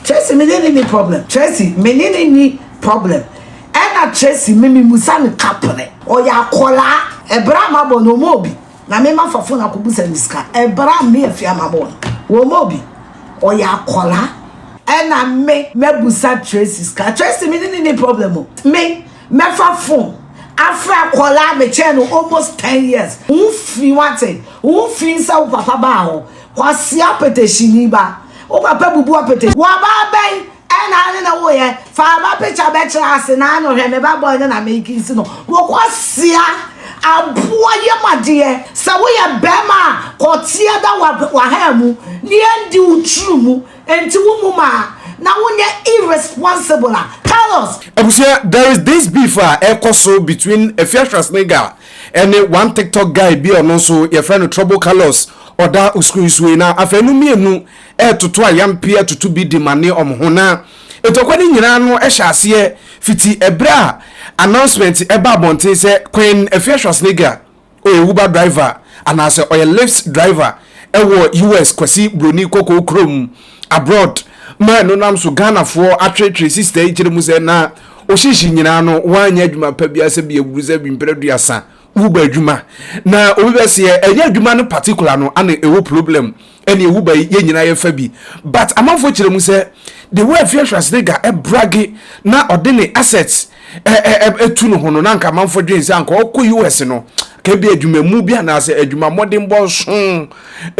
Tracy me ne no nni problem Tracy me ne no nni problem Ɛna Tracy me me musa no ka pere ɔyɛ akɔlaa Ɛbere a mabɔ no ɔmɔ obi Na me ma fa fon akɔ busa no sika Ɛbere a me afia mabɔ no wɔmɔ obi Ɔyɛ akɔlaa Ɛna me mɛ busa Tracy sika Tracy me ne no nni problem o Me mɛ fa fon afre akɔlaa me kyɛɛ no almost ten years Wo ho fi wate Wo ho fi sɛ wo papa baa hɔ Kwasea petehyini ba wo papa bubu ɔpete. Wɔbaa bɛn ɛna ane na woyɛ fa aba picture bɛkyerɛ ase na ano hwɛ me ba boy no na meki nsi no wo kwasea aboa yɛm adeɛ sɛ woyɛ bɛɛma a kɔteɛ da wahaa mu ne yɛndi wo tru mu nti wo mu maa na wonyɛ irresponsible a tell us Abusua, there is this beef a ɛrekɔ so between Afia Schwarzenegger ne one TikTok guy bi a ɔno nso yɛfrɛ no Trouble Carlos Ɔda osunsue na afei no mmienu retoto ayampeɛ atoto bi de mane wɔn ho. Na ntɔkwa no nyinaa no hyɛ aseɛ fiti ɛberɛ a announcement baa abɔnten sɛ Queen Afia Schwarzenegger ɔyɛ Uber driver anaasɛ ɔyɛ Lyft driver wɔ US, Kwasi Broni Kɔkɔɔ kurom, abroad, ma ɛno nam so Ghanafoɔ atwetwe sister yi kyerɛ mu sɛ na ɔhyehye nyinaa no wanyɛ adwuma pa biara sɛ bi aburusɛ bi mprɛ aduasa. Wo ba adwuma na obi bɛ se yɛ ɛnyɛ adwuma no particular no ana ɛwɔ problem ɛne ɛwu ba yi yɛ nyina yɛ fa bi but amanfoɔ kyerɛ mu sɛ the way afia Schwarzenegger ɛbrage na ɔde ne assets ɛtu no ho no na anka amanfoɔ dwen sɛ anka ɔkɔ US no ka bi adwuma mu bi anaasɛ adwuma mmɔdenbɔ nso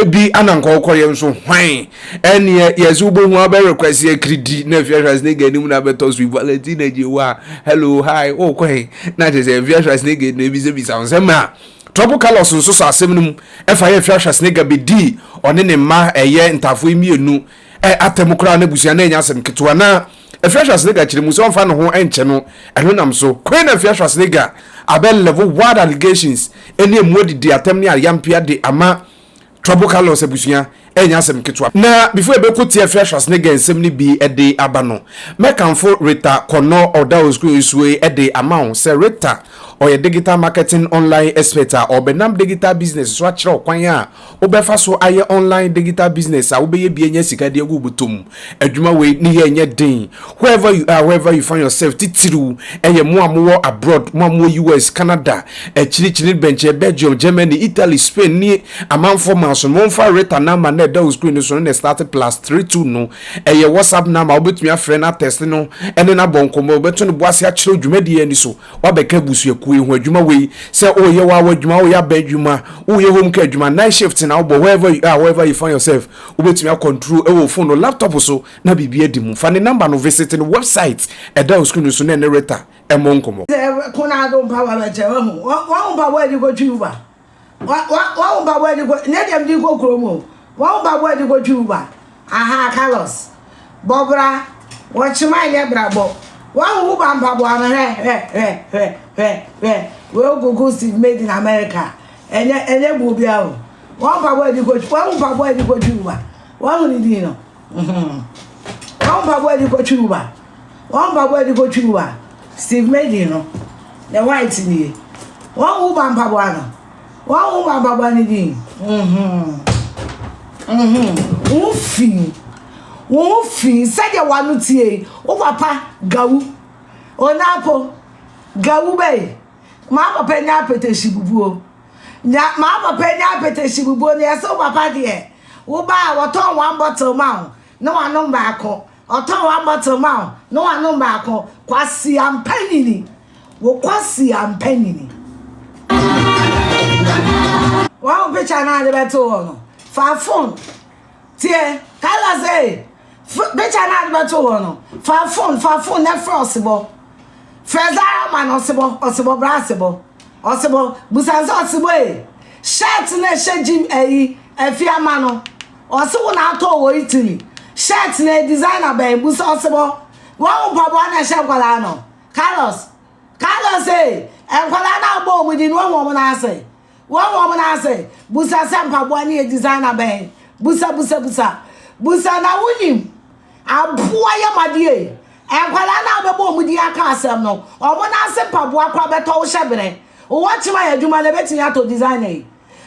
Bi a na nka ɔkɔyɛ nso hwan? Ɛneɛ yɛse wobɛhu abɛwe Kwasi Akiridi na Afia Schwarzenegger anim na abɛtɔ so yi Valentina Gyewa hello hi wokɔ he? Na kyerɛ sɛ Afia Schwarzenegger na ɛbisabisa wo nsɛm a Trouble Carlos nso sɔ asɛm no mu ɛfa yɛ Afia Schwarzenegger bɛdii ɔne ne mma ɛyɛ ntaafoɔ yi mmienu atam koraa na abusua no anya asɛm ketewa na Afia Schwarzenegger kyerɛ mu sɛ ɔmfa ne ho nkyɛ no, ɛno nam so. Queen Afia Schwarzenegger abɛ level wild allegations ɛne emu adidi atɛm ne ayampeɛ de ama Trouble Carlos abusua ɛnyɛ asɛm ketewa. Na before yɛbɛko tia Afia Schwarzenegger nsɛm no bi de aba no, mɛkamfo Rita Kɔnɔ a ɔda Osukuu so yi de ama wo sɛ Rita ɔyɛ digital marketing online expert a ɔbɛnam digital business so akyerɛ wo kwan a Wobɛfa so ayɛ online digital business a wobɛyɛ bi anya sika de agu wo bɔtɔ mu. Adwuma wei ne yɛ nyɛ den. Wherever you are, wherever you find yourself, titiriw ɛyɛ mo a mowɔ abroad, mo a mowɔ US, Canada, akyirikyiri bɛnkyɛ, Belgium, Germany, Italy, Spain ne amanfoɔ maa so no, momfa Rita number no a ɛda wo screen no so no na ɛstarte plus three two no. Ɛyɛ WhatsApp number a wobɛtumi afrɛ no atɛste no ne no abɔ nkɔmmɔ. Wobɛto ne bo ase akyerɛ wo dwumadie a ɛni so. Wabɛka abusuakuo yi ho adwuma wei sɛ woyɛ w'awa adwuma, woyɛ aba adwuma, woyɛ home care adwuma, night shift na wobɔ wherever you are, wherever you find yourself, wobɛtumi akɔntro ɛwɔ phone no, laptop so na biribi adi mu. Fa ne number no visit ne website ɛda wo screen so na ɛne Rita ɛmmɔ nkɔmmɔ. Sɛ ɛko no ara de wo mpaboa bɛkyɛ, wahu. Wɔn mpaboa a yɛde kɔtwi Uber. Wa wa wa wo mpaboa di ko ne deɛ mede kɔ kurom o. Wa wo mpaboa di ko twi uba. Aha Carlos. Bɔbra. Wɔkyema ɛnyɛ brabɔ. Wa wo uba mpaboa no hwɛ hwɛ hwɛ hwɛ hwɛ hwɛ. Wei okuku Steve made in America. Ɛnyɛ ɛnyɛ buo bia o. Wa wo mpaboa di ko wa wo mpaboa di ko twi uba. Wa hu ne din no. wɔn mpaboa a yɛde kɔtwi mu ba wɔn mpaboa a yɛde kɔtwi mu ba steve medin no ne white nie wɔn wo ba mpaboa no wɔn wo ba mpaboa no din wɔn fi wɔn fi sɛdeɛ wɔn ano tie wo papa gawu ɔnaapo gawu bɛyi maa papa nya apɛtɛsi bubuo. Nya maa papa nya apɛtɛhye bubuo no yɛse wo papa deɛ wo ba a wɔtɔn one bottle ma wo na wanom baako ɔtɔn one bottle ma wo na wanom baako kwasia mpanyini wo kwasia mpanyini wɔn picture naa de bɛto hɔ no fa phone Tie, Carla se, Fr, picture na ade bɛto hɔ no, fa phone, fa phone na frɛ ɔsebɔ. Frɛ Zara ma no ɔsebɔ, ɔsebɔ bra asebɔ. Ɔsebɔ, busa sɛ ɔsebɔ e, shirt na ɛhyɛ gym ayi, afi ama no. Ɔse wo na atɔ wɔ Italy. Shirt na e designer bɛn, busa ɔsebɔ. Wahu mpaboa na ɛhyɛ nkwadaa no. Carlos, Carlos se, nkwadaa no a wobɔ wɔn din no, wahu wɔn nan ase. Wɔn wɔ wɔn ase. Busa sɛ mpaboa no yɛ designer bɛn. Busa busa busa. Busa na wonim. Aboa yɛ madeɛ. Nkwadaa no a wobɛbɔ wɔn din aka asɛm no, wɔn nan ase mpaboa koraa bɛtɔ wo hyɛ berɛ. Wowɔ kyema yɛ adwuma no ɛbɛtumi atɔ designer yi.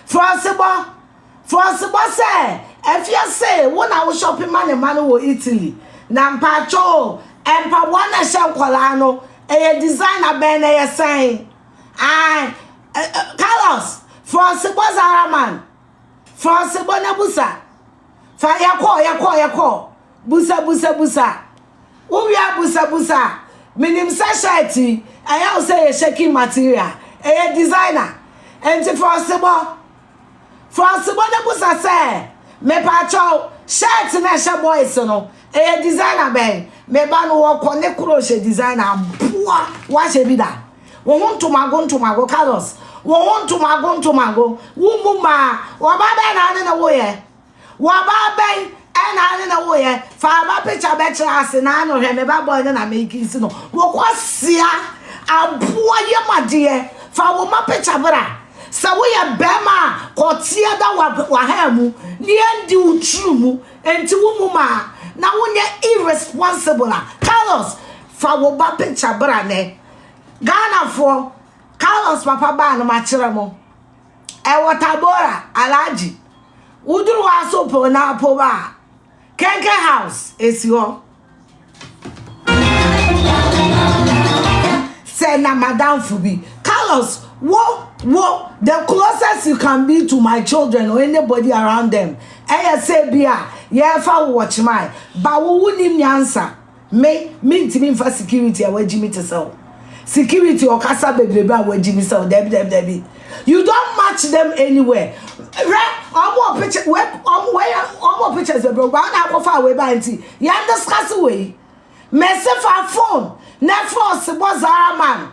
Frɔsebɔ. Frɔsebɔ sɛ afie se wo na wo shopping ma ne mma no wɔ Italy. Na mpakyɛw mpaboa no a ɛhyɛ nkwadaa no ɛyɛ designer bɛn na ɛyɛ sɛn. Ae, eh, eh, Carlos, fa ɔsebɔ zara man. Fa ɔsebɔ na busa. Fa yɛkɔ, yɛkɔ, yɛkɔ. Busa, busa, busa. Wowia busa, busa. Menim sɛ shirt yi, ɛyɛ wo sɛ yɛ shaking material. Ɛyɛ designer. Enti fa ɔsebɔ. Frɔnsebɔ no bisa sɛ, Mepakyɛw, shirt no a ɛhyɛ boys no, ɛyɛ designer bɛn? Me ba no wɔkɔ ne krohyɛ designer mpoa, woahyɛ bi da? Wo ho ntomago ntomago Carlos, wo ho ntomago ntomago, wommu mmaa, ɔbaa bɛn na wo ne no woeɛ? Wɔba bɛn na ne na woyɛ fa ba picture bɛkyerɛ ase na ano hwɛ me ba boy no na mekisi no wokɔ sia aboa yɛ madeɛ fa wo ma picture bra sɛ woyɛ bɛrima a kɔteɛ da wahaa mu ne ɛndi wo tiri mu nti wo mu maa na wonyɛ irresponsible a Carlos fa wo ba picture bra nɛ Ghanafoɔ Carlos papa baa no makyerɛ mo Ɛwɔ Tabora, Alhaji. Woduru hɔ a so po no apo hɔ a, Kenken House esi hɔ. Sɛ na madamfo bi, Carlos, wo, wo, the closest you can be to my children or anybody around them, ɛyɛ sɛ bi a yɛrefa wo wɔ Chemai, ba wo wonim nyansa. Me, mentumi mfa security a wagyi me te sɛ wo. Security ɔkasa bebrebe a wagyi me sɛ wo. Dabi, dabi, dabi. You don't match them anywhere. Hwɛ, wɔn wɔ picture, wɛ, wɔn wɛ, wɔn wɔ pictures bebrebe. Wɔn na akɔfa a wɔba nti, yɛn discuss wɔ yi. Mɛsi fa phone, na phone si bɔ Zara man.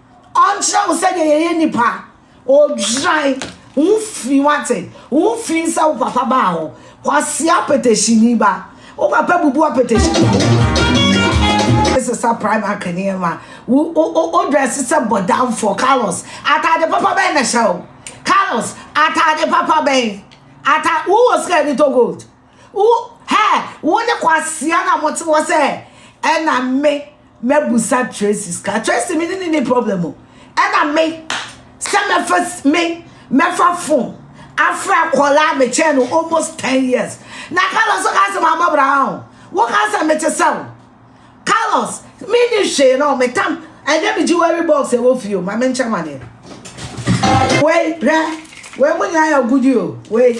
Ɔnkyerɛ wo sɛdeɛ yɛyɛ nnipa. Odwan wo firi wate. Wo firi sɛ wo papa baa hɔ. Kwasi apɛtɛhyini ba. Wo papa bubu apɛtɛhyini. Sesa prime ak nneɛma. Wo wo wo wo dress sɛ bɔdamfoɔ. Carlos, ataade papa bɛn na hyɛ wo? Carlos, ataade papa bɛn? Ata wo wɔ sika ni to gold. Wo hɛ wo ne kwasea na mo te hɔ sɛ ɛna me mɛbusa Tracy sika Tracy me ne ne ni problem o ɛna me sɛ mɛfa me mɛfa fon afra kɔla me kyɛn no almost ten years na Carlos so ka sɛ ma bɔ bra ho wo ka sɛ me te sɛ wo Carlos me ni hwee na ɔme tam ɛnyɛ me jewelry box ɛwɔ fie o ma me nkyɛn ma deɛ wei hwɛ wei mo nyinaa yɛ agudi o wei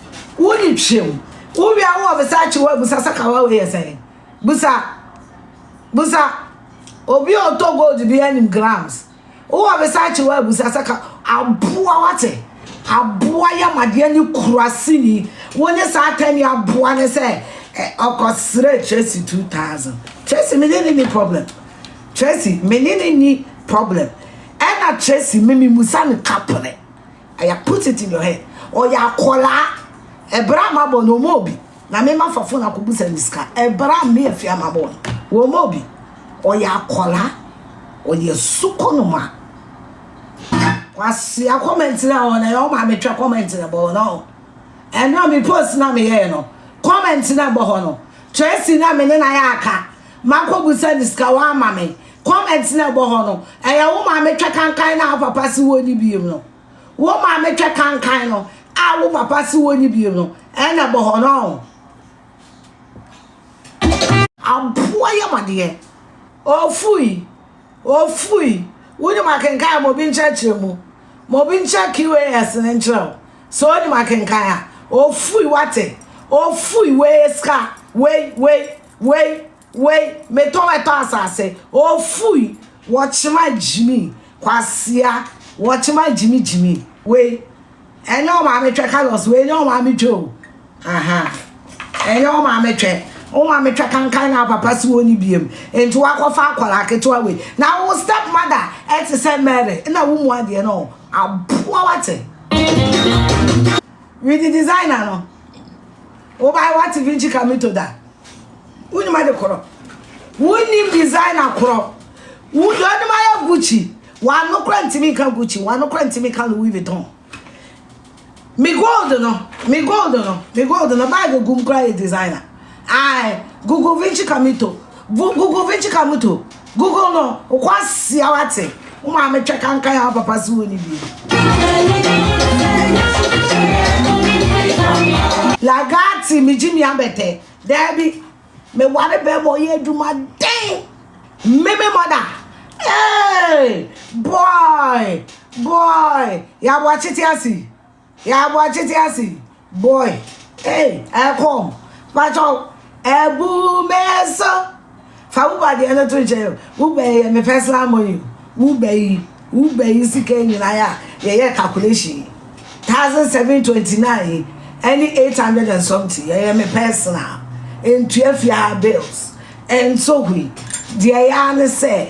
Wo ne twam. Wo wia wo wɔ Versace wɔ abusa sɛ kawa wei yɛ sɛn. Busa. Busa. Obi a ɔtɔ gold bi anim grams. Wo wɔ Versace wɔ abusa sɛ ka aboa wate. Aboa yamadeɛ ne kura sini. Wo ne saa tani aboa ne sɛ ɔkɔ srɛ Tracy 2000. Tracy me ne ne ni problem. Tracy me ne ne ni problem. Ɛna Tracy me me musa no kapene. I have put it in your head ɔyɛ akwadaa ɛberɛ a mabɔ no ɔma obi na mema fa fon akɔbusa no sika ɛberɛ a me afia mabɔ no wɔma obi ɔyɛ akwadaa ɔyɛ suko no ma kwasia kɔmɛnti na ɔna yɛ ɔma metwa kɔmɛnti na bɔ no ɛna me post na meyɛɛ no kɔmɛnti na bɔ hɔ no Tracy na me ne na yɛ aka makɔbusa no sika wɔama me Comment na ɛbɔ hɔ no, ɛyɛ wo maame twɛ kankan no a wo papa se wonni biom no. Wo maame twɛ kankan no a wo papa se wonni biom no, ɛna ɛbɔ hɔ no. Aboa yɛ madeɛ. Ofui, ofui. Wonim akenkan a ma obi nkyerɛkyerɛ mu. Ma obi nkyerɛ QAS no nkyerɛ wo. Sɛ onim akenkan a, ofui wate. Ofui wei sika, wei, wei, wei. Wei, metɔn ɛtɔ asase. Ofui, wɔkyema gyimi, kwasea, wɔkyema gyimi gyimi. Wei, ɛnyɛ wo maame twɛ Carlos, wei nyɛ wo maame twɛ o. Ahaa, ɛnyɛ wo maame twɛ. Wo maame twɛ kankan na papa se wɔnni biam, enti woakɔfa akwadaa ketewa wei. Na wo step mother te sɛ Mary, na wo mu adeɛ no, aboa wate. Widi designer no. Wobae w'ate Vinci Cammito da? Wonnim ade korɔ. Wonnim designer korɔ. Wo deɛ wonim ayɛ Gucci. W'ano kora ntumi nka Gucci. W'ano kora ntumi nka Louis Vuitton. Me gold no, me gold no, me gold no, bag gum kora yɛ designer. Ae, Google Vinci Camito, Vo, Google Vinci Camito, Google no, wokɔ asia wate, wo maame twɛ kankan ya wo papa se wo ni bi. Lagati, me gye mi abɛtɛ, daabi, me ware bɛɛma ɔyɛ adwuma den, meme mɔda, ee, boy, boy, ya boakye te ase. Yɛaboa tete ase yi boy ei ɛkɔm patwɔ ɛbu me so fa wo ba deɛ no to nkyɛn o wo ba yɛ me personal money wo ba yi wo ba yi sika nyinaa yɛ a yɛyɛ calculation yi thousand seven twenty nine yi ɛne eight hundred and something yɛyɛ me personal ntua fie ha bills ɛnso hui deɛ yɛ a ne sɛ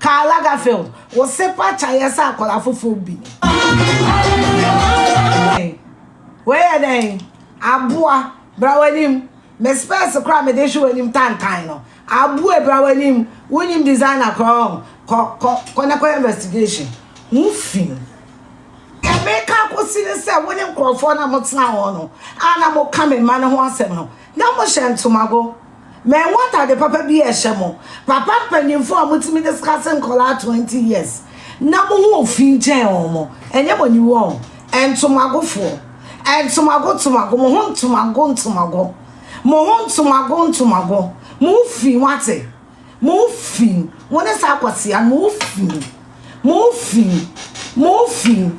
Karl Lagerfeld, Wo se pa kya yɛ sɛ akwadaa foforɔ bi. Wei yɛ dɛn? Aboa, bra w'anim. Me spɛɛse koraa mede hwe w'anim tantan no. Abue, bra w'anim. Wonim designer koraa ɔn. Kɔ, kɔ, kɔ na kɔyɛ investigation. Ho fi. Deɛ meka akɔsi ne sɛ wo ne nkurɔfoɔ no a motena hɔ no a na moka me mma no ho asɛm no, na mohyɛ ntomago. Mɛwɔ atade papa bi ɛhyɛ mo. Papa mpanyinfoɔ a mo tumi discuss nkɔlaa 20 years na mo ho ɔfi nkyɛn wɔn mo. Ɛnyɛ mo ani wɔ wɔn. Ntomagofoɔ. Ntomago ntomago. Mo ho ntomago ntomago. Mo ho ntomago ntomago. Mo ho fi wate. Mo fi mu. Mo ne saa kwasea no, mo fi mu. Mo fi mu. Mo fi mu.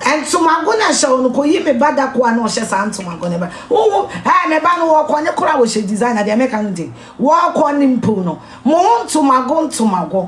Ntomago na hyɛ wɔn kɔ yi me ba da koa na ɔhyɛ saa ntomago ne ba. Wohu ɛɛ me ba no wɔkɔ ne kora wɔhyɛ design na deɛ meka no de wɔkɔ ne mpo no. Mo ntomago ntomago.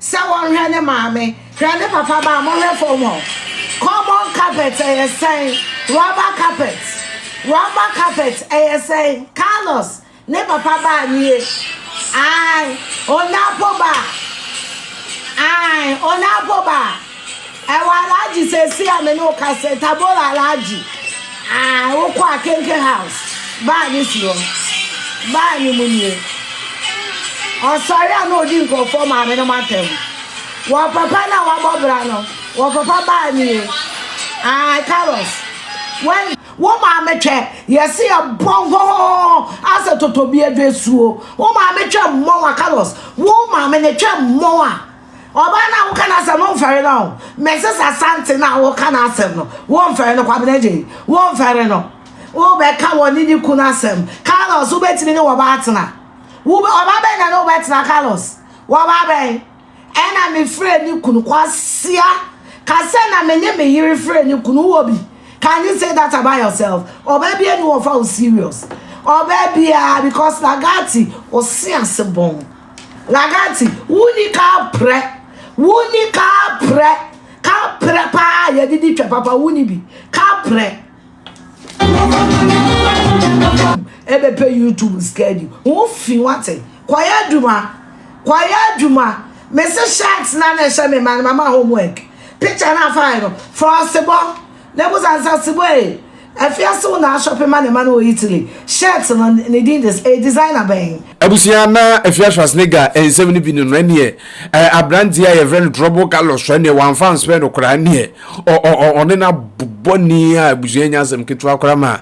Sɛ wɔhwɛ ne maame, hwɛ ne papa ba a, mohwɛ fam hɔ. Common carpet, ɛyɛ sɛn? Rubber carpet, rubber carpet, ɛyɛ sɛn? Carlos, ne papa ba nie. Ae, Onapo ba. Ae, Onapo ba. Ɛwɔ Alhaji seesei a me ne wo kasa yi, Tabora Alhaji. Ah, wokɔ Akenke house. Baa no si hɔ. Baa no mu nie. Ɔsɔre a na odi nkurɔfoɔ maame no matam. Wɔ papa no a wabɔ bra no, wɔ papa baa nie. Ah, Carlos. Wɛn. Wo maame twɛ, yɛse yɛ bɔ hɔhɔhɔhɔ asɛ totobia dwasuo. Wo maame twɛ mmɔn a, Carlos. Wo maame no twɛ mmɔn a. Ɔbaa no a woka n'asɛm no womfɛre no o. Mrs Asante no a woka n'asɛm no womfɛre no, Kwabena Gyei, womfɛre no. Wobɛka wɔne ne kunu asɛm. Carlos, wobɛtumi ne wɔbaa atena. Wobɛ, ɔbaa bɛn na ne wobɛtena Carlos? Wɔbaa bɛn? Ɛna mefrɛ ne kunu, Kwasia, ka sɛ na me ne me yere frɛ ne kunu, wɔ bi? Can you say that about yourself? Ɔbaa biara ni wɔfa wo serious. Ɔbaa biara, because Lagati, ɔse ase bɔn. Ragazzi, wo ni ka prɛ, wo ni ka prɛ, ka prɛ paa a yɛde di twa papa, wo ni bi, ka prɛ. Ɛbɛpɛ YouTube schedule, wo fi wate, kɔyɛ adwuma, kɔyɛ adwuma, mese shirt na na ɛhyɛ me ma no mama homework, picture na afa yɛ no, frɔsebɔ. Na mu dza Nsasiboa ee, Afiase wo na ashɔpe ma ne ma no wɔ Italy, shirt no ne din de ee designer bɛn? Abusua, na Afia Schwarzenegger nsɛm no bi no no ɛneɛ ɛɛ abranteɛ a yɛfrɛ no Trouble Carlos ɛneɛ wamfa anspɛ no koraa ɛneɛ ɔ ɔ ɔ ɔne no abobɔni a abusua nya asɛm ketewa koraa ma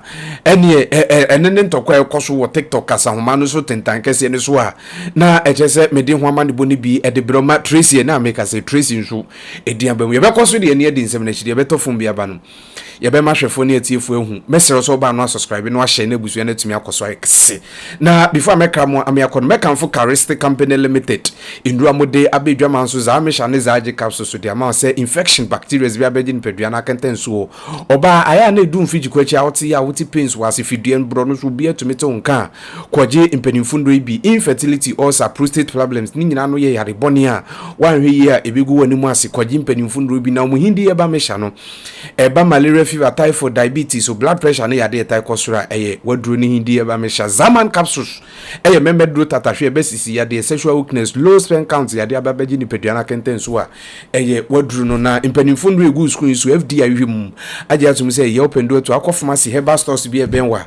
ɛneɛ ɛ ɛ ɛne ne ntɔkwa a ɛkɔ so wɔ TikTok kasahoma no so tentan kɛseɛ no so a na ɛkyɛ sɛ mede ho amanebɔ no bi ɛde berɛ ma Tracy ɛna meka sɛ Tracy nso Ɛdin aba mu. Yɛbɛkɔ so de ani adi nsɛm no akyi. Deɛ ɛbɛtɔ fam biara ba no, yɛbɛma ahwɛfoɔ ne atiefoɔ ahu. Mɛsrɛ wo sɛ wobaa no a subscribe na wahyɛ na abusua no atumi akɔ so ayɛ kɛse. Na before a mɛkra mo ame akɔ no, mɛkamfo Cariste Company Limited nnuro a mode aba adwaman so, Zaamisha ne Zaagye capsules so de ama wo sɛ infection, bacterias bi abɛgye nipadua no akɛntɛn nso o. Ɔbaa, ayɛ a na ɛdu mfedigyeku akyi a wote yaw, wote pains wɔ ase, fidua, borɔno so, obiara tumi te wo nka a, Kwɔgye mpanyimfo ndɔ yi bi, infertility, ulcer, prostate problems, ne nyina ano yɛ yare bɔne a wɔannhwɛ yie a ebegu w'anemu ase. Kwɔgye mpanyimfo ndɔ bi na wɔn hindi yɛ ba mehyɛ ano. Ɛba malaria fever, typhoid, diabetes, so blood pressure ne yade a ɛtae kɔ soro a ɛyɛ w'aduro ne hindi yɛ ba mehyɛ. Zaman capsules ɛyɛ mɛmɛ duro tata hwe ɛbɛ sisi yadeɛ, sexual weakness, low sperm count yade aba bɛgye nipadua no akɛntɛn so a ɛyɛ w'aduro no. Na mpanyimfo ndɔ a egu wo screen yi so, FDA ayuhwɛ mu agye atom sɛ ɛyɛ wopɛ ndɔ atu akɔ pharmacy, herbal stores bi a ɛbɛn wo a.